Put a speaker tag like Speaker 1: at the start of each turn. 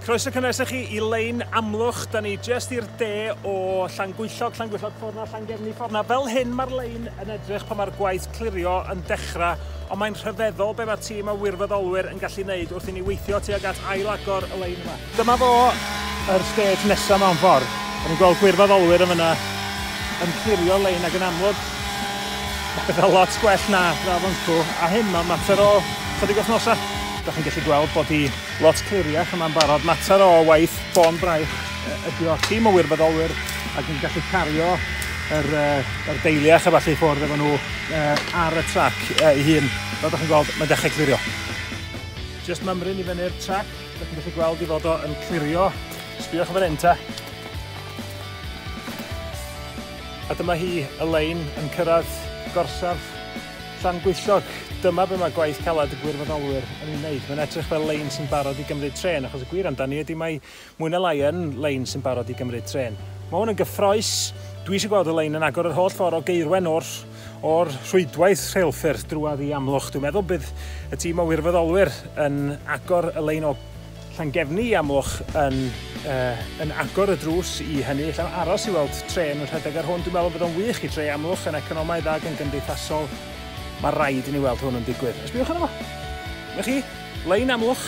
Speaker 1: Croeso cynnes i chi i Lein Amlwch. Da ni jyst i'r de o Llangwyllog, Llangwyllog ffordd na, Llangefni ffordd na. Fel hyn mae'r lein yn edrych pan mae'r gwaith clirio yn dechrau, ond mae'n rhyfeddol be mae tîm o wirfoddolwyr yn gallu neud wrth i ni weithio tuag at ail-agor y lein yma. Dyma fo, yr stage nesa mewn ffordd. Da ni'n gweld gwirfoddolwyr yn fyna yn clirio'r lein ac yn amlwg mae pethau lot gwell na dda fyncw, a hyn mae'n mater o chydig wythnosau. Da chi'n gallu gweld bod hi lot cliriach yma'n barod. Mater o waith bôn braich ydy o'r tîm o wirfoddolwyr ac yn gallu cario yr, uh, yr deiliach a falle ffwrdd efo nhw uh, ar y trac uh, ei hun. Fel ydych chi'n gweld, mae'n dechrau clirio. Just mymryn i fyny'r trac, ydych chi'n gallu gweld i fod o yn clirio. Sbiwch fan hyn ta. A dyma hi, Elaine, yn cyrraedd gorsaf Llangullog, dyma be mae gwaith caled y gwirfoddolwyr yn ei wneud, mae'n edrych fel lein sy'n barod i gymryd trên, achos y gwir amdani ydi mae mwy na lai yn lein sy'n barod i gymryd trên. Mae hwn yn gyffrous, dwi eisiau gweld y lein yn agor yr holl ffordd o Gaerwen o'r o'r rhwydwaith rheilffyrdd drwadd i Amlwch, dwi'n meddwl bydd y tîm o wirfoddolwyr yn agor y lein o Llangefni i Amlwch yn yy yn agor y drws i hynny. Ella am aros i weld trên yn rhedeg ar hwn. Dwi'n meddwl bod o'n wych i dre Amlwch yn economaidd ag yn gymdeithasol. Mae rhaid i ni weld hwn yn digwydd. Ysbïwch arno fo! Dyma chi, lein Amlwch.